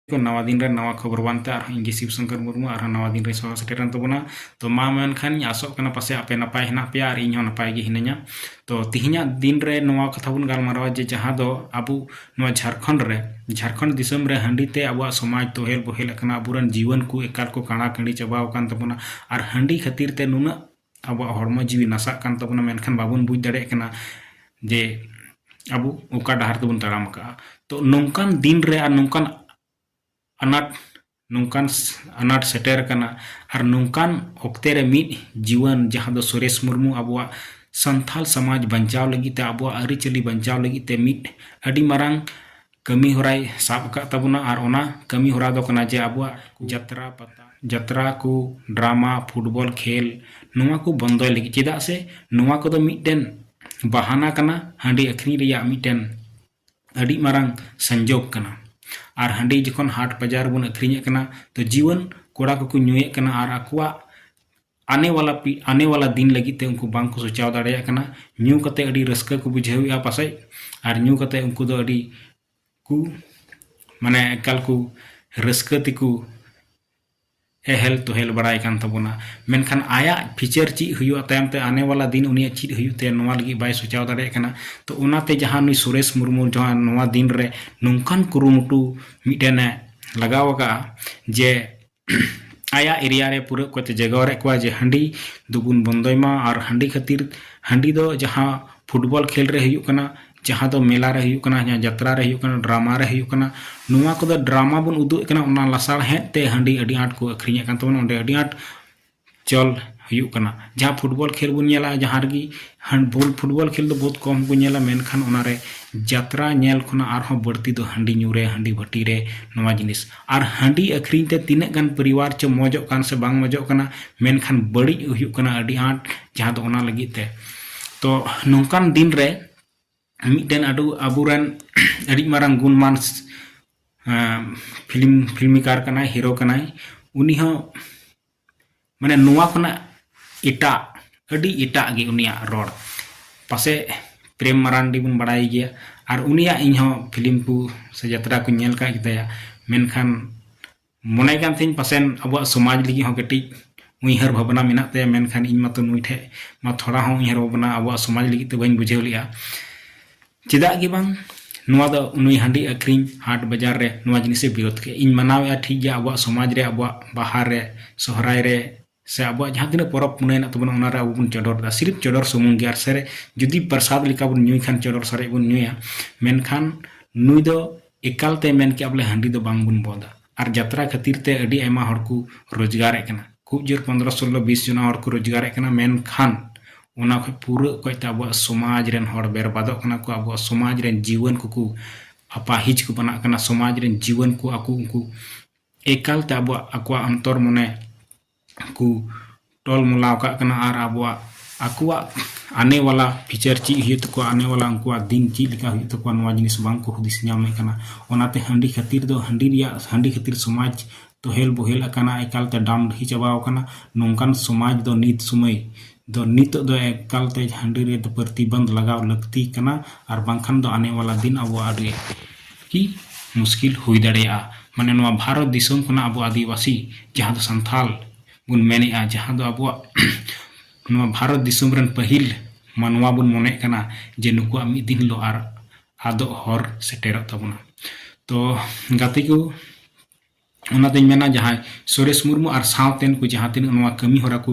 ᱠᱚ ᱱᱟᱣᱟ ᱫᱤᱱ ᱨᱮ ᱱᱟᱣᱟ ᱠᱷᱚᱵᱚᱨ ᱵᱟᱝᱛᱮ ᱟᱨᱦᱚᱸ ᱤᱧ ᱜᱮ ᱥᱤᱵ ᱥᱚᱝᱠᱚᱨ ᱢᱩᱨᱢᱩ ᱟᱨᱦᱚᱸ ᱱᱟᱣᱟ ᱫᱤᱱ ᱨᱮ ᱥᱚᱦᱚᱨ ᱥᱮᱴᱮᱨᱮᱱ ᱛᱟᱵᱚᱱᱟ ᱛᱚ ᱢᱟ ᱢᱮᱱᱠᱷᱟᱱ ᱤᱧ ᱟᱥᱚᱜ ᱠᱟᱱᱟ ᱯᱟᱥᱮ ᱟᱯᱮ ᱱᱟᱯᱟᱭ ᱦᱮᱱᱟᱜ ᱯᱮᱭᱟ ᱟᱨ ᱤᱧ ᱦᱚᱸ ᱱᱟᱯᱟᱭ ᱜᱮ ᱦᱤᱱᱟᱹᱧᱟ ᱛᱚ ᱛᱤᱦᱤᱧᱟᱜ ᱫᱤᱱ ᱨᱮ ᱱᱚᱣᱟ ᱠᱟᱛᱷᱟ ᱵᱚᱱ ᱜᱟᱞᱢᱟᱨᱟᱣᱟ ᱡᱮ ᱡᱟᱦᱟᱸ ᱫᱚ ᱟᱵᱚ ᱱᱚᱣᱟ ᱡᱷᱟᱨᱠᱷᱚᱸᱰ ᱨᱮ ᱡᱷᱟᱨᱠᱷᱚᱸᱰ ᱫᱤᱥᱚᱢ ᱨᱮ ᱦᱟᱺᱰᱤ ᱛᱮ ᱟᱵᱚᱣᱟᱜ ᱥᱚᱢᱟᱡᱽ ᱛᱚᱦᱮᱞ ᱵᱚᱦᱮᱞ ᱟᱠᱟᱱᱟ ᱟᱵᱚᱨᱮᱱ ᱡᱤᱣᱟᱹᱱ ᱠᱚ ᱮᱠᱟᱞ ᱠᱚ ᱠᱟᱬᱟ ᱠᱟᱺᱰᱤ ᱪᱟᱵᱟᱣ ᱟᱠᱟᱱ ᱛᱟᱵᱚᱱᱟ ᱟᱨ ᱦᱟᱺᱰᱤ ᱠᱷᱟᱹᱛᱤᱨ ᱛᱮ ᱱᱩᱱᱟᱹᱜ ᱟᱵᱚᱣᱟᱜ ᱦᱚᱲᱢᱚ ᱡᱤᱣᱤ ᱱᱟᱥᱟᱜ ᱠᱟᱱ ᱛᱟᱵᱚᱱᱟ ᱢᱮᱱᱠᱷᱟᱱ ᱵᱟᱵᱚᱱ ᱵᱩᱡᱽ ᱫᱟᱲᱮᱭᱟᱜ ᱠᱟᱱᱟ ᱡᱮ ᱟᱵᱚ ᱚᱠᱟ ᱰᱟᱦᱟᱨ ᱛᱮᱵᱚᱱ ᱛᱟᱲᱟᱢ ᱟᱠᱟᱫᱼᱟ ᱛᱚ ᱱᱚᱝᱠᱟᱱ ᱫᱤᱱ ᱨᱮ ᱟᱨ ᱱᱚᱝᱠᱟᱱ ᱟᱱᱟᱴ ᱱᱚᱝᱠᱟᱱ ᱟᱱᱟᱴ ᱥᱮᱴᱮᱨ ᱟᱠᱟᱱᱟ ᱟᱨ ᱱᱚᱝᱠᱟᱱ ᱚᱠᱛᱮ ᱨᱮ ᱢᱤᱫ ᱡᱩᱣᱟᱹᱱ ᱡᱟᱦᱟᱸ ᱫᱚ ᱥᱩᱨᱮᱥ ᱢᱩᱨᱢᱩ ᱟᱵᱚᱣᱟᱜ ᱥᱟᱱᱛᱟᱲ ᱥᱚᱢᱟᱡᱽ ᱵᱟᱧᱪᱟᱣ ᱞᱟᱹᱜᱤᱫ ᱛᱮ ᱟᱵᱚᱣᱟᱜ ᱟᱹᱨᱤᱪᱟᱹᱞᱤ ᱵᱟᱧᱪᱟᱣ ᱞᱟᱹᱜᱤᱫ ᱛᱮ ᱢᱤᱫ ᱟᱹᱰᱤ ᱢᱟᱨᱟᱝ ᱠᱟᱹᱢᱤ ᱦᱚᱨᱟᱭ ᱥᱟᱵ ᱟᱠᱟᱫ ᱛᱟᱵᱚᱱᱟ ᱟᱨ ᱚᱱᱟ ᱠᱟᱹᱢᱤ ᱦᱚᱨᱟ ᱫᱚ ᱠᱟᱱᱟ ᱡᱮ ᱟᱵᱚᱣᱟᱜ ᱡᱟᱛᱨᱟ ᱯᱟᱛᱟ ᱡᱟᱛᱨᱟ ᱠᱚ ᱰᱨᱟᱢᱟ ᱯᱷᱩᱴᱵᱚᱞ ᱠᱷᱮᱞ ᱱᱚᱣᱟ ᱠᱚ ᱵᱚᱱᱫᱚᱭ ᱞᱟᱹᱜᱤᱫ ᱪᱮᱫᱟᱜ ᱥᱮ ᱱᱚᱣᱟ ᱠᱚᱫᱚ ᱢᱤᱫᱴᱮᱱ ᱵᱟᱦᱟᱱᱟ ᱠᱟᱱᱟ ᱦᱟᱺᱰᱤ ᱟᱹᱠᱷᱨᱤᱧ ᱨᱮᱭᱟᱜ ᱢᱤᱫᱴᱮᱱ ᱟᱹᱰᱤ ᱢᱟᱨᱟᱝ ᱥᱚᱝᱡᱳᱜᱽ ᱠᱟᱱᱟ ᱟᱨ ᱦᱟᱺᱰᱤ ᱡᱚᱠᱷᱚᱱ ᱦᱟᱴ ᱵᱟᱡᱟᱨ ᱨᱮᱵᱚᱱ ᱟᱹᱠᱷᱨᱤᱧᱮᱫ ᱠᱟᱱᱟ ᱛᱚ ᱡᱩᱣᱟᱹᱱ ᱠᱚᱲᱟ ᱠᱚᱠᱚ ᱧᱩᱭᱮᱫ ᱠᱟᱱᱟ ᱟᱨ ᱟᱠᱚᱣᱟᱜ ᱟᱱᱮ ᱣᱟᱞᱟ ᱯᱤ ᱟᱱᱮ ᱣᱟᱞᱟ ᱫᱤᱱ ᱞᱟᱹᱜᱤᱫ ᱛᱮ ᱩᱱᱠᱩ ᱵᱟᱝ ᱠᱚ ᱥᱚᱪᱟᱣ ᱫᱟᱲᱮᱭᱟᱜ ᱠᱟᱱᱟ ᱧᱩ ᱠᱟᱛᱮ ᱟᱹᱰᱤ ᱨᱟᱹᱥᱠᱟᱹ ᱠᱚ ᱵᱩᱡᱷᱟᱹᱣᱮᱫᱼᱟ ᱯᱟᱥᱮᱡ ᱟᱨ ᱧᱩ ᱠᱟᱛᱮ ᱩᱱᱠᱩ ᱫᱚ ᱟᱹᱰᱤ ᱠᱚ ᱢᱟᱱᱮ ᱮᱠᱟᱞ ᱠᱚ ᱨᱟᱹᱥᱠᱟᱹ ᱛᱮᱠᱚ ᱮᱦᱮᱞ ᱛᱚᱦᱮᱞ ᱵᱟᱲᱟᱭ ᱠᱟᱱ ᱛᱟᱵᱚᱱᱟ ᱢᱮᱱᱠᱷᱟᱱ ᱟᱭᱟᱜ ᱯᱷᱤᱪᱟᱨ ᱪᱮᱫ ᱦᱩᱭᱩᱜᱼᱟ ᱛᱟᱭᱚᱢ ᱛᱮ ᱟᱱᱮ ᱣᱟᱞᱟ ᱫᱤᱱ ᱩᱱᱤᱭᱟᱜ ᱪᱮᱫ ᱦᱩᱭᱩᱜ ᱛᱟᱭᱟ ᱱᱚᱣᱟ ᱞᱟᱹᱜᱤᱫ ᱵᱟᱭ ᱥᱚᱪᱟᱣ ᱫᱟᱲᱮᱭᱟᱜ ᱠᱟᱱᱟ ᱛᱚ ᱚᱱᱟᱛᱮ ᱡᱟᱦᱟᱸ ᱱᱩᱭ ᱥᱩᱨᱮᱥ ᱢᱩᱨᱢᱩ ᱡᱟᱦᱟᱸ ᱱᱚᱣᱟ ᱫᱤᱱ ᱨᱮ ᱱᱚᱝᱠᱟᱱ ᱠᱩᱨᱩᱢᱩᱴᱩ ᱢᱤᱫᱴᱮᱱᱮ ᱞᱟᱜᱟᱣ ᱟᱠᱟᱫᱼᱟ ᱡᱮ ᱟᱭᱟᱜ ᱮᱨᱤᱭᱟ ᱨᱮ ᱯᱩᱨᱟᱹ ᱚᱠᱚᱭᱛᱮ ᱡᱟᱜᱟᱣᱟᱨᱮᱫ ᱠᱚᱣᱟ ᱡᱮ ᱦᱟᱺᱰᱤ ᱫᱚᱵᱚᱱ ᱵᱚᱱᱫᱚᱭ ᱢᱟ ᱟᱨ ᱦᱟᱺᱰᱤ ᱠᱷᱟᱹᱛᱤᱨ ᱦᱟᱺᱰᱤ ᱫᱚ ᱡᱟᱦᱟᱸ ᱯᱷᱩᱴᱵᱚᱞ ᱠᱷᱮᱞ ᱨᱮ ᱦᱩᱭᱩᱜ ᱠᱟᱱᱟ ᱡᱟᱦᱟᱸ ᱫᱚ ᱢᱮᱞᱟ ᱨᱮ ᱦᱩᱭᱩᱜ ᱠᱟᱱᱟ ᱡᱟᱦᱟᱸ ᱡᱟᱛᱨᱟ ᱨᱮ ᱦᱩᱭᱩᱜ ᱠᱟᱱᱟ ᱰᱨᱟᱢᱟ ᱨᱮ ᱦᱩᱭᱩᱜ ᱠᱟᱱᱟ ᱱᱚᱣᱟ ᱠᱚᱫᱚ ᱰᱨᱟᱢᱟ ᱵᱚᱱ ᱩᱫᱩᱜ ᱮᱫ ᱠᱟᱱᱟ ᱚᱱᱟ ᱞᱟᱥᱟᱲᱦᱮᱫ ᱛᱮ ᱦᱟᱺᱰᱤ ᱟᱹᱰᱤ ᱟᱸᱴ ᱠᱚ ᱟᱹᱠᱷᱨᱤᱧᱮᱫ ᱠᱟᱱ ᱛᱟᱵᱚᱱᱟ ᱚᱸᱰᱮ ᱟᱹᱰᱤ ᱟᱸᱴ ᱪᱚᱞ ᱦᱩᱭᱩᱜ ᱠᱟᱱᱟ ᱡᱟᱦᱟᱸ ᱯᱷᱩᱴᱵᱚᱞ ᱠᱷᱮᱞ ᱵᱚᱱ ᱧᱮᱞᱟ ᱡᱟᱦᱟᱸ ᱨᱮᱜᱮ ᱦᱮᱱᱰᱵᱚᱞ ᱯᱷᱩᱴᱵᱚᱞ ᱠᱷᱮᱞ ᱫᱚ ᱵᱚᱦᱩᱛ ᱠᱚᱢ ᱠᱚ ᱧᱮᱞᱟ ᱢᱮᱱᱠᱷᱟᱱ ᱚᱱᱟ ᱨᱮ ᱡᱟᱛᱨᱟ ᱧᱮᱞ ᱠᱷᱚᱱᱟᱜ ᱟᱨᱦᱚᱸ ᱵᱟᱹᱲᱛᱤ ᱫᱚ ᱦᱟᱺᱰᱤ ᱧᱩ ᱨᱮ ᱦᱟᱺᱰᱤ ᱵᱷᱟᱹᱴᱤ ᱨᱮ ᱱᱚᱣᱟ ᱡᱤᱱᱤᱥ ᱟᱨ ᱦᱟᱺᱰᱤ ᱟᱹᱠᱷᱨᱤᱧ ᱛᱮ ᱛᱤᱱᱟᱹᱜ ᱜᱟᱱ ᱯᱚᱨᱤᱵᱟᱨ ᱪᱚ ᱢᱚᱡᱚᱜ ᱠᱟᱱ ᱥᱮ ᱵᱟᱝ ᱢᱚᱡᱚᱜ ᱠᱟᱱᱟ ᱢᱮᱱᱠᱷᱟᱱ ᱵᱟᱹᱲᱤᱡ ᱦᱩᱭᱩᱜ ᱠᱟᱱᱟ ᱟᱹᱰᱤ ᱟᱸᱴ ᱡᱟᱦᱟᱸ ᱫᱚ ᱚᱱᱟ ᱞᱟᱹᱜᱤᱫ ᱛᱮ ᱛᱚ ᱱᱚᱝᱠᱟᱱ ᱫᱤᱱ ᱨᱮ ᱢᱤᱫᱴᱮᱱ ᱟᱹᱰᱩ ᱟᱵᱚᱨᱮᱱ ᱟᱹᱰᱤ ᱢᱟᱨᱟᱝ ᱜᱩᱱᱢᱟᱱ ᱯᱷᱤᱞᱢ ᱯᱷᱤᱞᱢᱤᱠᱟᱨ ᱠᱟᱱᱟᱭ ᱦᱤᱨᱳ ᱠᱟᱱᱟᱭ ᱩᱱᱤ ᱦᱚᱸ ᱢᱟᱱᱮ ᱱᱚᱣᱟ ᱠᱷᱚᱱᱟᱜ ᱮᱴᱟᱜ ᱟᱹᱰᱤ ᱮᱴᱟᱜ ᱜᱮ ᱩᱱᱤᱭᱟᱜ ᱨᱚᱲ ᱯᱟᱥᱮ ᱯᱨᱮᱢ ᱢᱟᱨᱟᱱᱰᱤ ᱵᱚᱱ ᱵᱟᱲᱟᱭ ᱜᱮᱭᱟ ᱟᱨ ᱩᱱᱤᱭᱟᱜ ᱤᱧ ᱦᱚᱸ ᱯᱷᱤᱞᱢ ᱠᱚ ᱥᱮ ᱡᱟᱛᱨᱟ ᱠᱚᱧ ᱧᱮᱞ ᱠᱟᱜ ᱜᱮᱛᱟᱭᱟ ᱢᱮᱱᱠᱷᱟᱱ ᱢᱚᱱᱮ ᱠᱟᱱ ᱛᱤᱧ ᱯᱟᱥᱮᱱ ᱟᱵᱚᱣᱟᱜ ᱥᱚᱢᱟᱡᱽ ᱞᱟᱹᱜᱤᱫ ᱦᱚᱸ ᱠᱟᱹᱴᱤᱡ ᱩᱭᱦᱟᱹᱨ ᱵᱷᱟᱵᱽᱱᱟ ᱢᱮᱱᱟᱜ ᱛᱟᱭᱟ ᱢᱮᱱᱠᱷᱟᱱ ᱤᱧ ᱢᱟᱛᱚ ᱱᱩᱭ ᱴᱷᱮᱡ ᱢᱟ ᱛᱷᱚᱲᱟ ᱦᱚᱸ ᱩᱭᱦᱟᱹᱨ ᱵᱷᱟᱵᱽᱱᱟ ᱟᱵᱚᱣᱟᱜ ᱥᱚᱢᱟᱡᱽ ᱞᱟᱹᱜᱤᱫ ᱛᱮ ᱵᱟᱹᱧ ᱵᱩᱡᱷᱟᱹᱣ ᱞᱮᱜᱼᱟ ᱪᱮᱫᱟᱜ ᱜᱮ ᱵᱟᱝ ᱱᱚᱣᱟ ᱫᱚ ᱱᱩᱭ ᱦᱟᱺᱰᱤ ᱟᱹᱠᱷᱨᱤᱧ ᱦᱟᱴ ᱵᱟᱡᱟᱨ ᱨᱮ ᱱᱚᱣᱟ ᱡᱤᱱᱤᱥᱮ ᱵᱤᱨᱳᱫᱷ ᱠᱮᱫ ᱤᱧ ᱢᱟᱱᱟᱣᱮᱫᱼᱟ ᱴᱷᱤᱠ ᱜᱮᱭᱟ ᱟᱵᱚᱣᱟᱜ ᱥᱚᱢᱟᱡᱽ ᱨᱮ ᱟᱵᱚᱣᱟᱜ ᱵᱟᱦᱟ ᱨᱮ ᱥᱚᱦᱨᱟᱭ ᱨᱮ ᱥᱮ ᱟᱵᱚᱣᱟᱜ ᱡᱟᱦᱟᱸ ᱛᱤᱱᱟᱹᱜ ᱯᱚᱨᱚᱵᱽ ᱯᱩᱱᱟᱹᱭ ᱦᱮᱱᱟᱜ ᱛᱟᱵᱚᱱᱟ ᱚᱱᱟᱨᱮ ᱟᱵᱚ ᱵᱚᱱ ᱪᱚᱰᱚᱨ ᱮᱫᱟ ᱥᱤᱨᱤᱯ ᱪᱚᱰᱚᱨ ᱥᱩᱢᱩᱝ ᱜᱮ ᱟᱨ ᱥᱮᱨᱮᱧ ᱡᱩᱫᱤ ᱯᱨᱚᱥᱟᱫᱽ ᱞᱮᱠᱟ ᱵᱚᱱ ᱧᱩᱭ ᱠᱷᱟᱱ ᱪᱚᱰᱚᱨ ᱥᱟᱨᱮᱡ ᱵᱚᱱ ᱧᱩᱭᱟ ᱢᱮᱱᱠᱷᱟᱱ ᱱᱩᱭ ᱫᱚ ᱮᱠᱟᱞ ᱛᱮ ᱢᱮᱱ ᱠᱮᱜᱼᱟ ᱵᱚᱞᱮ ᱦᱟᱺᱰᱤ ᱫᱚ ᱵᱟᱝ ᱵᱚᱱ ᱵᱚᱸᱫᱟ ᱟᱨ ᱡᱟᱛᱨᱟ ᱠᱷᱟᱹᱛᱤᱨ ᱛᱮ ᱟᱹᱰᱤ ᱟᱭᱢᱟ ᱦᱚᱲ ᱠᱚ ᱨᱳᱡᱽᱜᱟᱨ ᱮᱫ ᱠᱟᱱᱟ ᱠᱷᱩᱵ ᱡᱳᱨ ᱯᱚᱱᱫᱽᱨᱚ ᱥᱳᱞᱞᱳ ᱵᱤᱥ ᱡᱚᱱᱟ ᱦᱚᱲ ᱠᱚ ᱨᱳᱡᱽᱜᱟᱨ ᱮᱫ ᱠᱟᱱᱟ ᱢᱮᱱᱠᱷᱟᱱ ᱚᱱᱟ ᱠᱷᱚᱱ ᱯᱩᱨᱟᱹ ᱚᱠᱚᱭ ᱛᱮ ᱟᱵᱚᱣᱟᱜ ᱥᱚᱢᱟᱡᱽ ᱨᱮᱱ ᱦᱚᱲ ᱵᱮᱨᱵᱟᱫᱚᱜ ᱠᱟᱱᱟ ᱠᱚ ᱟᱵᱚᱣᱟᱜ ᱥᱚᱢᱟᱡᱽ ᱨᱮᱱ ᱡᱤᱣᱟᱹᱱ ᱠᱚ ᱠᱚ ᱟᱯᱟᱦᱤᱡ ᱠᱚ ᱵᱟᱱᱟᱜ ᱠᱟᱱᱟ ᱥᱚᱢᱟᱡᱽ ᱨᱮᱱ ᱡᱤᱣᱟᱹᱱ ᱠᱚ ᱟᱠᱚ ᱩᱱᱠᱩ ᱮᱠᱟᱞ ᱛᱮ ᱟᱵᱚᱣᱟᱜ ᱟᱠᱚᱣᱟᱜ ᱚᱱᱛᱚᱨ ᱢᱚᱱᱮ ᱠᱚ ᱴᱚᱞ ᱢᱚᱞᱟᱣ ᱠᱟᱜ ᱠᱟᱱᱟ ᱟᱨ ᱟᱵᱚᱣᱟᱜ ᱟᱠᱚᱣᱟᱜ ᱟᱱᱮ ᱣᱟᱞᱟ ᱯᱷᱤᱪᱟᱨ ᱪᱮᱫ ᱦᱩᱭᱩᱜ ᱛᱟᱠᱚᱣᱟ ᱟᱱᱮ ᱣᱟᱞᱟ ᱩᱱᱠᱩᱣᱟᱜ ᱫᱤᱱ ᱪᱮᱫ ᱞᱮᱠᱟ ᱦᱩᱭᱩᱜ ᱛᱟᱠᱚᱣᱟ ᱱᱚᱣᱟ ᱡᱤᱱᱤᱥ ᱵᱟᱝ ᱠᱚ ᱦᱩᱫᱤᱥ ᱧᱟᱢᱮᱫ ᱠᱟᱱᱟ ᱚᱱᱟᱛᱮ ᱦᱟᱺᱰᱤ ᱠᱷᱟᱹᱛᱤᱨ ᱫᱚ ᱦᱟᱺᱰᱤ ᱨᱮᱭᱟᱜ ᱦᱟᱺᱰᱤ ᱠᱷᱟᱹᱛᱤᱨ ᱥᱚᱢᱟᱡᱽ ᱛᱚᱦᱮᱞ ᱵᱚᱦᱮᱞ ᱟᱠᱟᱱᱟ ᱮᱠᱟᱞ ᱛᱮ ᱰᱟᱢ ᱰᱟᱹᱦᱤ ᱪᱟᱵᱟᱣ ᱠᱟᱱᱟ ᱱᱚᱝᱠᱟᱱ ᱥᱚᱢᱟᱡᱽ ᱫᱚ ᱱᱤᱛ ᱥᱚᱢᱚᱭ ᱫᱚ ᱱᱤᱛᱚᱜ ᱫᱚ ᱮᱠᱟᱞ ᱛᱮ ᱦᱟᱺᱰᱤ ᱨᱮ ᱯᱨᱚᱛᱤᱵᱚᱱᱫᱷ ᱞᱟᱜᱟᱣ ᱞᱟᱹᱠᱛᱤ ᱠᱟᱱᱟ ᱟᱨ ᱵᱟᱝᱠᱷᱟᱱ ᱫᱚ ᱟᱱᱮ ᱣᱟᱞᱟ ᱫᱤᱱ ᱟᱵᱚᱣᱟᱜ ᱟᱹᱰᱤ ᱠᱤ ᱢᱩᱥᱠᱤᱞ ᱦᱩᱭ ᱫᱟᱲᱮᱭᱟᱜᱼᱟ ᱢᱟᱱᱮ ᱱᱚᱣᱟ ᱵᱷᱟᱨᱚᱛ ᱫᱤᱥᱚᱢ ᱠᱷᱚᱱᱟᱜ ᱟᱵᱚ ᱟᱹᱫᱤᱵᱟᱹᱥᱤ ᱡᱟᱦᱟᱸ ᱫᱚ ᱥᱟᱱᱛᱟᱲ ᱵᱚᱱ ᱢᱮᱱᱮᱜᱼᱟ ᱡᱟᱦᱟᱸ ᱫᱚ ᱟᱵᱚᱣᱟᱜ ᱱᱚᱣᱟ ᱵᱷᱟᱨᱚᱛ ᱫᱤᱥᱚᱢ ᱨᱮᱱ ᱯᱟᱹᱦᱤᱞ ᱢᱟᱱᱣᱟ ᱵᱚᱱ ᱢᱚᱱᱮᱜ ᱠᱟᱱᱟ ᱡᱮ ᱱᱩᱠᱩᱣᱟᱜ ᱢᱤᱫ ᱫᱤᱱ ᱦᱤᱞᱳᱜ ᱟᱨ ᱟᱫᱚᱜ ᱦᱚᱨ ᱥᱮᱴᱮᱨᱚᱜ ᱛᱟᱵᱚᱱᱟ ᱛᱚ ᱜᱟᱛᱮ ᱠᱚ ᱚᱱᱟᱛᱮᱧ ᱢᱮᱱᱟ ᱡᱟᱦᱟᱸᱭ ᱥᱩᱨᱮᱥ ᱢᱩᱨᱢᱩ ᱟᱨ ᱥᱟᱶᱛᱮᱱ ᱠᱚ ᱡᱟᱦᱟᱸ ᱛᱤᱱᱟᱹᱜ ᱱᱚᱣᱟ ᱠᱟᱹᱢᱤ ᱦᱚᱨᱟ ᱠᱚ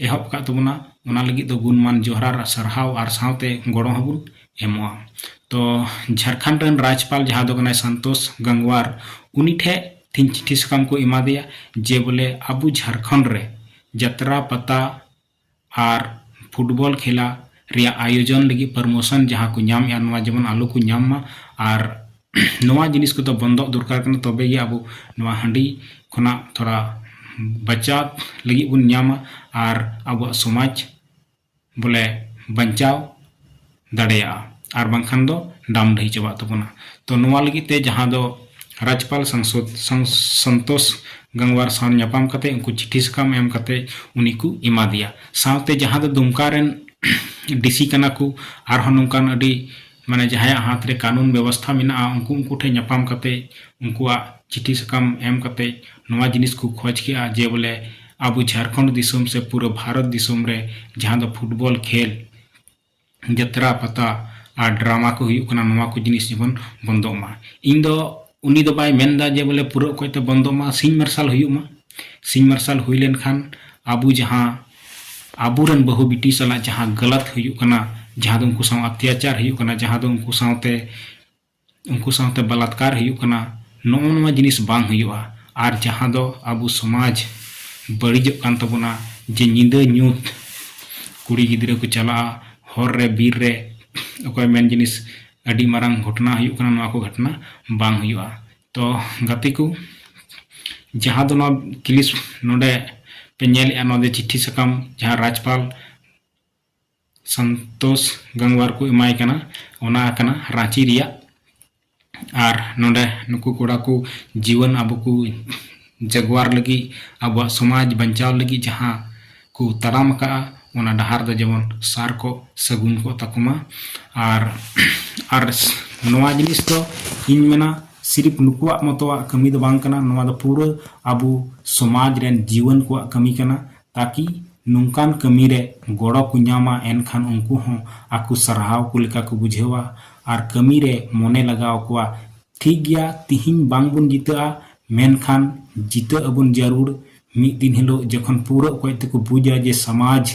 ᱮᱦᱚᱵ ᱟᱠᱟᱫ ᱛᱟᱵᱚᱱᱟ ᱚᱱᱟ ᱞᱟᱹᱜᱤᱫ ᱫᱚ ᱜᱩᱱᱢᱟᱱ ᱡᱚᱦᱟᱨ ᱟᱨ ᱥᱟᱨᱦᱟᱣ ᱟᱨ ᱥᱟᱶᱛᱮ ᱜᱚᱲᱚ ᱦᱚᱸᱵᱚᱱ ᱮᱢᱚᱜᱼᱟ ᱛᱚ ᱡᱷᱟᱲᱠᱷᱚᱸᱰ ᱨᱮᱱ ᱨᱟᱡᱽᱯᱟᱞ ᱡᱟᱦᱟᱸ ᱫᱚ ᱠᱟᱱᱟᱭ ᱥᱟᱱᱛᱳᱥ ᱜᱟᱝᱣᱟᱨ ᱩᱱᱤ ᱴᱷᱮᱡ ᱛᱤᱦᱤᱧ ᱪᱤᱴᱷᱤ ᱥᱟᱠᱟᱢ ᱠᱚ ᱮᱢᱟ ᱫᱮᱭᱟ ᱡᱮ ᱵᱚᱞᱮ ᱟᱵᱚ ᱡᱷᱟᱲᱠᱷᱚᱸᱰ ᱨᱮ ᱡᱟᱛᱨᱟ ᱯᱟᱛᱟ ᱟᱨ ᱯᱷᱩᱴᱵᱚᱞ ᱠᱷᱮᱞᱟ ᱨᱮᱭᱟᱜ ᱟᱭᱳᱡᱚᱱ ᱞᱟᱹᱜᱤᱫ ᱯᱟᱨᱢᱳᱥᱚᱱ ᱡᱟᱦᱟᱸ ᱠᱚ ᱧᱟᱢᱮᱫᱼᱟ ᱱᱚᱣᱟ ᱡᱮᱢᱚᱱ ᱟᱞᱚ ᱠᱚ ᱧᱟᱢ ᱢᱟ ᱟᱨ ᱱᱚᱣᱟ ᱡᱤᱱᱤᱥ ᱠᱚᱫᱚ ᱵᱚᱱᱫᱚᱜ ᱫᱚᱨᱠᱟᱨ ᱠᱟᱱᱟ ᱛᱚᱵᱮ ᱜᱮ ᱟᱵᱚ ᱱᱚᱣᱟ ᱦᱟᱺᱰᱤ ᱠᱷᱚᱱᱟᱜ ᱛᱷᱚᱲᱟ ᱵᱟᱪᱟᱣ ᱞᱟᱹᱜᱤᱫ ᱵᱚᱱ ᱧᱟᱢᱟ ᱟᱨ ᱟᱵᱚᱣᱟᱜ ᱥᱚᱢᱟᱡᱽ ᱵᱚᱞᱮ ᱵᱟᱧᱪᱟᱣ ᱫᱟᱲᱮᱭᱟᱜᱼᱟ ᱟᱨ ᱵᱟᱝᱠᱷᱟᱱ ᱫᱚ ᱰᱟᱢ ᱰᱟᱹᱦᱤ ᱪᱟᱵᱟᱜ ᱛᱟᱵᱚᱱᱟ ᱛᱚ ᱱᱚᱣᱟ ᱞᱟᱹᱜᱤᱫ ᱛᱮ ᱡᱟᱦᱟᱸ ᱫᱚ ᱨᱟᱡᱽᱯᱟᱞ ᱥᱟᱝᱥᱚᱫ ᱥᱚᱱᱛᱳᱥ ᱜᱟᱝᱣᱟᱨ ᱥᱟᱶ ᱧᱟᱯᱟᱢ ᱠᱟᱛᱮ ᱩᱱᱠᱩ ᱪᱤᱴᱷᱤ ᱥᱟᱠᱟᱢ ᱮᱢ ᱠᱟᱛᱮ ᱩᱱᱤ ᱠᱚ ᱮᱢᱟ ᱫᱮᱭᱟ ᱥᱟᱶᱛᱮ ᱡᱟᱦᱟᱸ ᱫᱚ ᱫᱩᱢᱠᱟ ᱨᱮᱱ ᱰᱤᱥᱤ ᱠᱟᱱᱟ ᱠᱚ ᱟᱨᱦᱚᱸ ᱱᱚᱝᱠᱟᱱ ᱟᱹᱰᱤ ᱢᱟᱱᱮ ᱡᱟᱦᱟᱸᱭᱟᱜ ᱦᱟᱛ ᱨᱮ ᱠᱟᱹᱱᱩᱱ ᱵᱮᱵᱚᱥᱛᱷᱟ ᱢᱮᱱᱟᱜᱼᱟ ᱩᱱᱠᱩ ᱩᱱᱠᱩ ᱴᱷᱮᱱ ᱧᱟᱯᱟᱢ ᱠᱟᱛᱮ ᱩᱱᱠᱩᱣᱟᱜ ᱪᱤᱴᱷᱤ ᱥᱟᱠᱟᱢ ᱮᱢ ᱠᱟᱛᱮ ᱱᱚᱣᱟ ᱡᱤᱱᱤᱥ ᱠᱚ ᱠᱷᱚᱡ ᱠᱮᱜᱼᱟ ᱡᱮ ᱵᱚᱞᱮ ᱟᱵᱚ ᱡᱷᱟᱲᱠᱷᱚᱸᱰ ᱫᱤᱥᱚᱢ ᱥᱮ ᱯᱩᱨᱟᱹ ᱵᱷᱟᱨᱚᱛ ᱫᱤᱥᱚᱢ ᱨᱮ ᱡᱟᱦᱟᱸ ᱫᱚ ᱯᱷᱩᱴᱵᱚᱞ ᱠᱷᱮᱞ ᱡᱟᱛᱨᱟ ᱯᱟᱛᱟ ᱟᱨ ᱰᱨᱟᱢᱟ ᱠᱚ ᱦᱩᱭᱩᱜ ᱠᱟᱱᱟ ᱱᱚᱣᱟ ᱠᱚ ᱡᱤᱱᱤᱥ ᱡᱮᱢᱚᱱ ᱵᱚᱱᱫᱚᱜ ᱢᱟ ᱤᱧ ᱫᱚ ᱩᱱᱤ ᱫᱚ ᱵᱟᱭ ᱢᱮᱱ ᱮᱫᱟ ᱡᱮ ᱵᱚᱞᱮ ᱯᱩᱨᱟᱹ ᱚᱠᱚᱡ ᱛᱮ ᱵᱚᱱᱫᱚᱜ ᱢᱟ ᱥᱤᱧ ᱢᱟᱨᱥᱟᱞ ᱦᱩᱭᱩᱜ ᱢᱟ ᱥᱤᱧ ᱢᱟᱨᱥᱟᱞ ᱦᱩᱭ ᱞᱮᱱ ᱠᱷᱟᱱ ᱟᱵᱚ ᱡᱟᱦᱟᱸ ᱟᱵᱚ ᱨᱮᱱ ᱵᱟᱹᱦᱩ ᱵᱤᱴᱤ ᱥᱟᱞᱟᱜ ᱡᱟᱦᱟᱸ ᱜᱟᱞᱟᱛ ᱦᱩᱭᱩᱜ ᱠᱟᱱᱟ ᱡᱟᱦᱟᱸ ᱫᱚ ᱩᱱᱠᱩ ᱥᱟᱶ ᱚᱛᱛᱟᱪᱟᱨ ᱦᱩᱭᱩᱜ ᱠᱟᱱᱟ ᱡᱟᱦᱟᱸ ᱫᱚ ᱩᱱᱠᱩ ᱥᱟᱶᱛᱮ ᱩᱱᱠᱩ ᱥᱟᱶᱛᱮ ᱵᱟᱞᱟᱛᱠᱟᱨ ᱦᱩᱭᱩᱜ ᱠᱟᱱᱟ ᱱᱚᱜᱼᱚ ᱱᱚᱣᱟ ᱡᱤᱱᱤᱥ ᱵᱟᱝ ᱦᱩᱭᱩᱜᱼᱟ ᱟᱨ ᱡᱟᱦᱟᱸ ᱫᱚ ᱟᱵᱚ ᱥᱚᱢᱟᱡᱽ ᱵᱟᱹᱲᱤᱡᱚᱜ ᱠᱟᱱ ᱛᱟᱵᱚᱱᱟ ᱡᱮ ᱧᱤᱫᱟᱹ ᱧᱩᱛ ᱠᱩᱲᱤ ᱜᱤᱫᱽᱨᱟᱹ ᱠᱚ ᱪᱟᱞᱟᱜᱼᱟ ᱦᱚᱨ ᱨᱮ ᱵᱤᱨ ᱨᱮ ᱚᱠᱚᱭ ᱢᱮᱱ ᱡᱤᱱᱤᱥ ᱟᱹᱰᱤ ᱢᱟᱨᱟᱝ ᱜᱷᱚᱴᱚᱱᱟ ᱦᱩᱭᱩᱜ ᱠᱟᱱᱟ ᱱᱚᱣᱟ ᱠᱚ ᱜᱷᱚᱴᱚᱱᱟ ᱵᱟᱝ ᱦᱩᱭᱩᱜᱼᱟ ᱛᱚ ᱜᱟᱛᱮ ᱠᱚ ᱡᱟᱦᱟᱸ ᱫᱚ ᱱᱚᱣᱟ ᱠᱞᱤᱯ ᱱᱚᱰᱮ ᱯᱮ ᱧᱮᱞᱮᱫᱼᱟ ᱱᱚᱣᱟ ᱫᱚ ᱪᱤᱴᱷᱤ ᱥᱟᱠᱟᱢ ᱡᱟᱦᱟᱸ ᱨᱟᱡᱽᱯᱟᱞ ᱥᱚᱱᱛᱳᱥ ᱜᱟᱝᱣᱟᱨ ᱠᱚ ᱮᱢᱟᱭ ᱠᱟᱱᱟ ᱚᱱᱟ ᱠᱟᱱᱟ ᱨᱟᱺᱪᱤ ᱨᱮᱭᱟᱜ ᱟᱨ ᱱᱚᱰᱮ ᱱᱩᱠᱩ ᱠᱚᱲᱟ ᱠᱚ ᱡᱤᱣᱟᱹᱱ ᱟᱵᱚ ᱠᱚ ᱡᱟᱜᱽᱣᱟᱨ ᱞᱟᱹᱜᱤᱫ ᱟᱵᱚᱣᱟᱜ ᱥᱚᱢᱟᱡᱽ ᱵᱟᱧᱪᱟᱣ ᱞᱟᱹᱜᱤᱫ ᱡᱟᱦᱟᱸ ᱠᱚ ᱛᱟᱲᱟᱢ ᱟᱠᱟᱫᱼᱟ ᱚᱱᱟ ᱰᱟᱦᱟᱨ ᱫᱚ ᱡᱮᱢᱚᱱ ᱥᱟᱨ ᱠᱚᱜ ᱥᱟᱹᱜᱩᱱ ᱠᱚᱜ ᱛᱟᱠᱚ ᱢᱟ ᱟᱨ ᱟᱨ ᱱᱚᱣᱟ ᱡᱤᱱᱤᱥ ᱫᱚ ᱤᱧ ᱢᱮᱱᱟ ᱥᱤᱨᱤᱯ ᱱᱩᱠᱩᱣᱟᱜ ᱢᱚᱛᱚᱣᱟᱜ ᱠᱟᱹᱢᱤ ᱫᱚ ᱵᱟᱝ ᱠᱟᱱᱟ ᱱᱚᱣᱟ ᱫᱚ ᱯᱩᱨᱟᱹ ᱟᱵᱚ ᱥᱚᱢᱟᱡᱽ ᱨᱮᱱ ᱡᱤᱣᱟᱹᱱ ᱠᱚᱣᱟᱜ ᱠᱟᱹᱢᱤ ᱠᱟᱱᱟ ᱛᱟᱠᱤ ᱱᱚᱝᱠᱟᱱ ᱠᱟᱹᱢᱤ ᱨᱮ ᱜᱚᱲᱚ ᱠᱚ ᱧᱟᱢᱟ ᱮᱱᱠᱷᱟᱱ ᱩᱱᱠᱩ ᱦᱚᱸ ᱟᱠᱚ ᱥᱟᱨᱦᱟᱣ ᱠᱚ ᱞᱮᱠᱟ ᱠᱚ ᱵᱩᱡᱷᱟᱹᱣᱟ ᱟᱨ ᱠᱟᱹᱢᱤ ᱨᱮ ᱢᱚᱱᱮ ᱞᱟᱜᱟᱣ ᱟᱠᱚᱣᱟ ᱴᱷᱤᱠ ᱜᱮᱭᱟ ᱛᱤᱦᱤᱧ ᱵᱟᱝ ᱵᱚᱱ ᱡᱤᱛᱟᱹᱜᱼᱟ ᱢᱮᱱᱠᱷᱟᱱ ᱡᱤᱛᱟᱹᱜ ᱟᱵᱚᱱ ᱡᱟᱹᱨᱩᱲ ᱢᱤᱫ ᱫᱤᱱ ᱦᱤᱞᱚᱜ ᱡᱚᱠᱷᱚᱱ ᱯᱩᱨᱟᱹ ᱚᱠᱚᱡ ᱛᱮᱠᱚ ᱵᱩᱡᱟ ᱡᱮ ᱥᱟᱢᱟᱡᱽ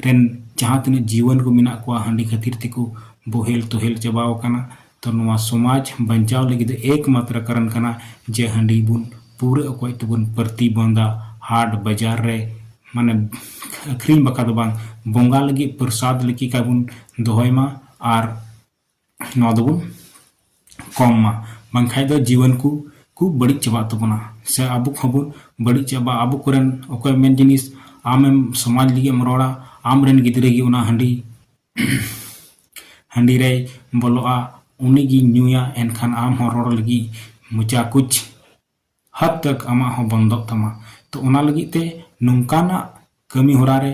ᱨᱮᱱ ᱡᱟᱦᱟᱸ ᱛᱤᱱᱟᱹᱜ ᱡᱤᱣᱟᱹᱱ ᱠᱚ ᱢᱮᱱᱟᱜ ᱠᱚᱣᱟ ᱦᱟᱺᱰᱤ ᱠᱷᱟᱹᱛᱤᱨ ᱛᱮᱠᱚ ᱵᱚᱦᱮᱞ ᱛᱚᱦᱮᱞ ᱪᱟᱵᱟᱣ ᱟᱠᱟᱱᱟ ᱛᱚ ᱱᱚᱣᱟ ᱥᱚᱢᱟᱡᱽ ᱵᱟᱧᱪᱟᱣ ᱞᱟᱹᱜᱤᱫ ᱫᱚ ᱮᱠ ᱢᱟᱛᱨᱟ ᱠᱟᱨᱚᱱ ᱠᱟᱱᱟ ᱡᱮ ᱦᱟᱺᱰᱤ ᱵᱚᱱ ᱯᱩᱨᱟᱹ ᱚᱠᱚᱡ ᱛᱮᱵᱚᱱ ᱯᱨᱚᱛᱤ ᱵᱚᱱᱫᱟ ᱦᱟᱴ ᱵᱟᱡᱟᱨ ᱨᱮ ᱢᱟᱱᱮ ᱟᱹᱠᱷᱨᱤᱧ ᱵᱟᱠᱷᱨᱟ ᱫᱚ ᱵᱟᱝ ᱵᱚᱸᱜᱟ ᱞᱟᱹᱜᱤᱫ ᱯᱨᱚᱥᱟᱫᱽ ᱞᱮᱠᱟ ᱵᱚᱱ ᱫᱚᱦᱚᱭ ᱢᱟ ᱟᱨ ᱱᱚᱣᱟ ᱫᱚᱵᱚᱱ ᱠᱚᱢ ᱢᱟ ᱵᱟᱝᱠᱷᱟᱡ ᱫᱚ ᱡᱤᱭᱚᱱ ᱠᱚ ᱠᱚ ᱵᱟᱹᱲᱤᱡ ᱪᱟᱵᱟᱜ ᱛᱟᱵᱚᱱᱟ ᱥᱮ ᱟᱵᱚ ᱠᱚᱦᱚᱸ ᱵᱚᱱ ᱵᱟᱹᱲᱤᱡ ᱪᱟᱵᱟᱜᱼᱟ ᱟᱵᱚ ᱠᱚᱨᱮᱱ ᱚᱠᱚᱭ ᱢᱮᱱ ᱡᱤᱱᱤᱥ ᱟᱢᱮᱢ ᱥᱚᱢᱟᱡᱽ ᱞᱟᱹᱜᱤᱫ ᱮᱢ ᱨᱚᱲᱟ ᱟᱢᱨᱮᱱ ᱜᱤᱫᱽᱨᱟᱹ ᱜᱮ ᱚᱱᱟ ᱦᱟᱺᱰᱤ ᱦᱟᱺᱰᱤ ᱨᱮᱭ ᱵᱚᱞᱚᱜᱼᱟ ᱩᱱᱤ ᱜᱮᱧ ᱧᱩᱭᱟ ᱮᱱᱠᱷᱟᱱ ᱟᱢ ᱦᱚᱸ ᱨᱚᱲ ᱞᱟᱹᱜᱤᱫ ᱢᱚᱪᱟ ᱠᱩᱪ ᱦᱟᱫᱽ ᱛᱚᱠ ᱟᱢᱟᱜ ᱦᱚᱸ ᱵᱚᱱᱫᱚᱜ ᱛᱟᱢᱟ ᱛᱚ ᱚᱱᱟ ᱞᱟᱹᱜᱤᱫ ᱛᱮ ᱱᱚᱝᱠᱟᱱᱟᱜ ᱠᱟᱹᱢᱤ ᱦᱚᱨᱟ ᱨᱮ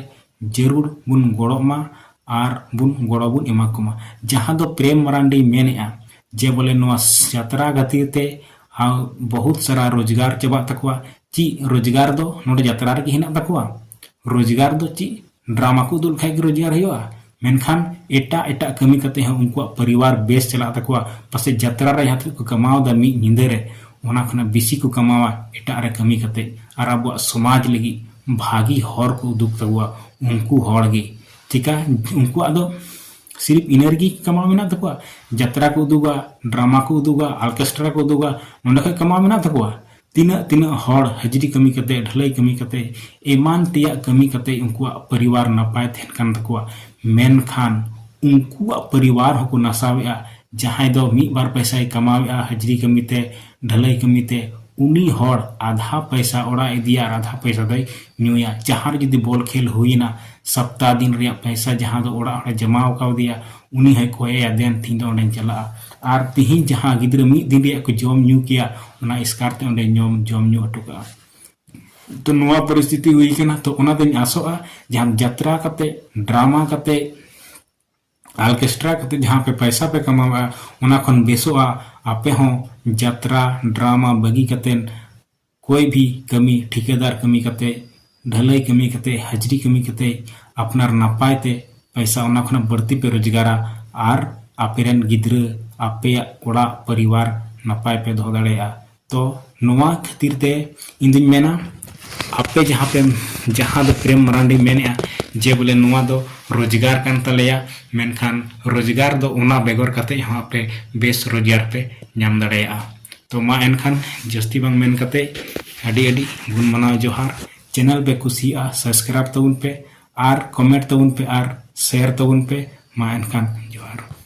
ᱡᱟᱹᱨᱩᱲ ᱵᱚᱱ ᱜᱚᱲᱚᱜ ᱢᱟ ᱟᱨ ᱵᱚᱱ ᱜᱚᱲᱚ ᱵᱚᱱ ᱮᱢᱟ ᱠᱚᱢᱟ ᱡᱟᱦᱟᱸ ᱫᱚ ᱯᱨᱮᱢ ᱢᱟᱨᱟᱱᱰᱤ ᱢᱮᱱᱮᱫᱼᱟ ᱡᱮ ᱵᱚᱞᱮ ᱱᱚᱣᱟ ᱡᱟᱛᱨᱟ ᱠᱷᱟᱹᱛᱤᱨ ᱛᱮ ᱟᱨ ᱵᱚᱦᱩᱛ ᱥᱟᱨᱟ ᱨᱳᱡᱽᱜᱟᱨ ᱪᱟᱵᱟᱜ ᱛᱟᱠᱚᱣᱟ ᱪᱮᱫ ᱨᱳᱡᱽᱜᱟᱨ ᱫᱚ ᱱᱚᱰᱮ ᱡᱟᱛᱨᱟ ᱨᱮᱜᱮ ᱦᱮᱱᱟᱜ ᱛᱟᱠᱚᱣᱟ ᱨᱳᱡᱽᱜᱟᱨ ᱫᱚ ᱪᱮᱫ ᱰᱨᱟᱢᱟ ᱠᱚ ᱩᱫᱩᱜ ᱞᱮᱠᱷᱟᱡ ᱜᱮ ᱨᱳᱡᱽᱜᱟᱨ ᱦᱩᱭᱩᱜᱼᱟ ᱢᱮᱱᱠᱷᱟᱱ ᱮᱴᱟᱜ ᱮᱴᱟᱜ ᱠᱟᱹᱢᱤ ᱠᱟᱛᱮ ᱦᱚᱸ ᱩᱱᱠᱩᱣᱟᱜ ᱯᱚᱨᱤᱵᱟᱨ ᱵᱮᱥ ᱪᱟᱞᱟᱜ ᱛᱟᱠᱚᱣᱟ ᱯᱟᱥᱮᱡ ᱡᱟᱛᱨᱟ ᱨᱮ ᱡᱟᱦᱟᱸ ᱛᱤᱱᱟᱹᱜ ᱠᱚ ᱠᱟᱢᱟᱣᱫᱟ ᱢᱤᱫ ᱧᱤᱫᱟᱹ ᱨᱮ ᱚᱱᱟ ᱠᱷᱚᱱᱟᱜ ᱵᱮᱥᱤ ᱠᱚ ᱠᱟᱢᱟᱣᱟ ᱮᱴᱟᱜ ᱨᱮ ᱠᱟᱹᱢᱤ ᱠᱟᱛᱮ ᱟᱨ ᱟᱵᱚᱣᱟᱜ ᱥᱚᱢᱟᱡᱽ ᱞᱟᱹᱜᱤᱫ ᱵᱷᱟᱹᱜᱤ ᱦᱚᱨ ᱠᱚ ᱩᱫᱩᱜ ᱛᱟᱠᱚᱣᱟ ᱩᱱᱠᱩ ᱦᱚᱲ ᱜᱮ ᱪᱮᱠᱟ ᱩᱱᱠᱩᱣᱟᱜ ᱫᱚ ᱥᱤᱨᱤᱯ ᱤᱱᱟᱹ ᱨᱮᱜᱮ ᱠᱟᱢᱟᱣ ᱢᱮᱱᱟᱜ ᱛᱟᱠᱚᱣᱟ ᱡᱟᱛᱨᱟ ᱠᱚ ᱩᱫᱩᱜᱟ ᱰᱨᱟᱢᱟ ᱠᱚ ᱩᱫᱩᱜᱟ ᱚᱨᱠᱮᱥᱴᱨᱟ ᱠᱚ ᱩᱫᱩᱜᱟ ᱱᱚᱸᱰᱮ ᱠᱷᱚᱡ ᱠᱟᱢᱟᱣ ᱢᱮᱱᱟᱜ ᱛᱟᱠᱚᱣᱟ ᱛᱤᱱᱟᱹᱜ ᱛᱤᱱᱟᱹᱜ ᱦᱚᱲ ᱦᱟᱹᱡᱨᱤ ᱠᱟᱹᱢᱤ ᱠᱟᱛᱮ ᱰᱷᱟᱹᱞᱟᱹᱭ ᱠᱟᱹᱢᱤ ᱠᱟᱛᱮ ᱮᱢᱟᱱ ᱛᱮᱭᱟᱜ ᱠᱟᱹᱢᱤ ᱠᱟᱛᱮ ᱩᱱᱠᱩᱣᱟᱜ ᱯᱚᱨᱤᱵᱟᱨ ᱱᱟᱯᱟᱭ ᱛᱟᱦᱮᱱ ᱠᱟᱱ ᱛᱟᱠᱚᱣᱟ ᱢᱮᱱᱠᱷᱟᱱ ᱩᱱᱠᱩᱣᱟᱜ ᱯᱚᱨᱤᱵᱟᱨ ᱦᱚᱸᱠᱚ ᱱᱟᱥᱟᱣᱮᱫᱼᱟ ᱡᱟᱦᱟᱸᱭ ᱫᱚ ᱢᱤᱫ ᱵᱟᱨ ᱯᱚᱭᱥᱟᱭ ᱠᱟᱢᱟᱣᱮᱫᱼᱟ ᱦᱟᱹᱡᱨᱤ ᱠᱟᱹᱢᱤ ᱛᱮ ᱰᱷᱟᱹᱞᱟᱹᱭ ᱠᱟᱹᱢᱤ ᱛᱮ ᱩᱱᱤ ᱦᱚᱲ ᱟᱫᱷᱟ ᱯᱚᱭᱥᱟ ᱚᱲᱟᱜ ᱮ ᱤᱫᱤᱭᱟ ᱟᱨ ᱟᱫᱷᱟ ᱯᱚᱭᱥᱟ ᱫᱚᱭ ᱧᱩᱭᱟ ᱡᱟᱦᱟᱸ ᱨᱮ ᱡᱩᱫᱤ ᱵᱚᱞ ᱠᱷᱮᱞ ᱦᱩᱭᱮᱱᱟ ᱥᱚᱯᱛᱟᱦᱚ ᱫᱤᱱ ᱨᱮᱭᱟᱜ ᱯᱚᱭᱥᱟ ᱡᱟᱦᱟᱸ ᱫᱚ ᱚᱲᱟᱜ ᱦᱚᱲᱮ ᱡᱚᱢᱟᱣ ᱠᱟᱣᱫᱮᱭᱟ ᱩᱱᱤ ᱦᱚᱸᱭ ᱠᱚᱭᱮᱭᱟ ᱫᱮᱱ ᱛᱤᱦᱤᱧ ᱫᱚ ᱚᱸᱰᱮᱧ ᱪᱟᱞᱟᱜᱼᱟ ᱟᱨ ᱛᱤᱦᱤᱧ ᱡᱟᱦᱟᱸ ᱜᱤᱫᱽᱨᱟᱹ ᱢᱤᱫ ᱫᱤᱱ ᱨᱮᱭᱟᱜ ᱠᱚ ᱡᱚᱢ ᱧᱩ ᱠᱮᱭᱟ ᱚᱱᱟ ᱮᱥᱠᱟᱨ ᱛᱮ ᱚᱸᱰᱮ ᱧᱚᱢ ᱡᱚᱢ ᱧᱩ ᱦᱚᱴᱚ ᱠᱟᱜᱼᱟ ᱛᱚ ᱱᱚᱣᱟ ᱯᱚᱨᱤᱥᱛᱷᱤᱛᱤ ᱦᱩᱭ ᱠᱟᱱᱟ ᱛᱚ ᱚᱱᱟ ᱫᱚᱧ ᱟᱥᱚᱜᱼᱟ ᱡᱟᱦᱟᱸ ᱡᱟᱛᱨᱟ ᱠᱟᱛᱮ ᱰᱨᱟᱢᱟ ᱠᱟᱛᱮ ᱟᱞᱠᱮᱥᱴᱨᱟ ᱠᱟᱛᱮ ᱡᱟᱦᱟᱸ ᱯᱮ ᱯᱟᱭᱥᱟ ᱯᱮ ᱠᱟᱢᱟᱣᱟ ᱚᱱᱟ ᱠᱷᱚᱱ ᱵᱮᱥᱚᱜᱼᱟ ᱟᱯᱮ ᱦᱚᱸ ᱡᱟᱛᱨᱟ ᱰᱨᱟᱢᱟ ᱵᱟᱹᱜᱤ ᱠᱟᱛᱮ ᱠᱚᱭ ᱵᱷᱤ ᱠᱟᱹᱢᱤ ᱴᱷᱤᱠᱟᱹᱫᱟᱨ ᱠᱟᱹᱢᱤ ᱠᱟᱛᱮ ᱰᱷᱟᱹᱞᱟᱹᱭ ᱠᱟᱹᱢᱤ ᱠᱟᱛᱮ ᱦᱟᱡᱽᱨᱤ ᱠᱟᱹᱢᱤ ᱠᱟᱛᱮ ᱟᱯᱱᱟᱨ ᱱᱟᱯᱟᱭ ᱛᱮ ᱯᱟᱭᱥᱟ ᱚᱱᱟ ᱠᱷᱚᱱᱟᱜ ᱵᱟᱹᱲᱛᱤ ᱯᱮ ᱨᱳᱡᱽᱜᱟᱨᱟ ᱟᱨ ᱟᱯᱮ ᱨᱮᱱ ᱜᱤᱫᱽᱨᱟᱹ ᱟᱯᱮᱭᱟᱜ ᱚᱲᱟᱜ ᱯᱚᱨᱤᱵᱟᱨ ᱱᱟᱯᱟᱭ ᱯᱮ ᱫᱚᱦᱚ ᱫᱟᱲᱮᱭᱟᱜᱼᱟ ᱛᱚ ᱱᱚᱣᱟ ᱠᱷᱟᱹᱛᱤᱨ ᱛᱮ ᱤᱧ ᱫᱩᱧ ᱢᱮᱱᱟ ᱟᱯᱮ ᱡᱟᱦᱟᱸ ᱯᱮ ᱡᱟᱦᱟᱸ ᱫᱚ ᱯᱨᱮᱢ ᱢᱟᱨᱟᱱᱰᱤ ᱢᱮᱱᱮᱜᱼᱟ ᱡᱮ ᱵᱚᱞᱮ ᱱᱚᱣᱟ ᱫᱚ ᱨᱳᱡᱽᱜᱟᱨ ᱠᱟᱱ ᱛᱟᱞᱮᱭᱟ ᱢᱮᱱᱠᱷᱟᱱ ᱨᱳᱡᱽᱜᱟᱨ ᱫᱚ ᱚᱱᱟ ᱵᱮᱜᱚᱨ ᱠᱟᱛᱮ ᱦᱚᱸ ᱟᱯᱮ ᱵᱮᱥ ᱨᱳᱡᱽᱜᱟᱨ ᱯᱮ ᱧᱟᱢ ᱫᱟᱲᱮᱭᱟᱜᱼᱟ ᱛᱚ ᱢᱟ ᱮᱱᱠᱷᱟᱱ ᱡᱟᱹᱥᱛᱤ ᱵᱟᱝ ᱢᱮᱱ ᱠᱟᱛᱮ ᱟᱹᱰᱤ ᱟᱹᱰᱤ ᱜᱩᱱ ᱢᱟᱱᱟᱣ ᱡᱚᱦᱟᱨ ᱪᱮᱱᱮᱞ ᱯᱮ ᱠᱩᱥᱤᱭᱟᱜᱼᱟ ᱥᱟᱵᱥᱠᱨᱟᱭᱤᱵ ᱛᱟᱵᱚᱱ ᱯᱮ ᱟᱨ ᱠᱚᱢᱮᱱᱴ ᱛᱟᱵᱚᱱ ᱯᱮ ᱟᱨ ᱥᱮᱭᱟᱨ ᱛᱟᱵᱚᱱ ᱯᱮ ᱢᱟ ᱮᱱᱠᱷᱟᱱ ᱡᱚᱦᱟᱨ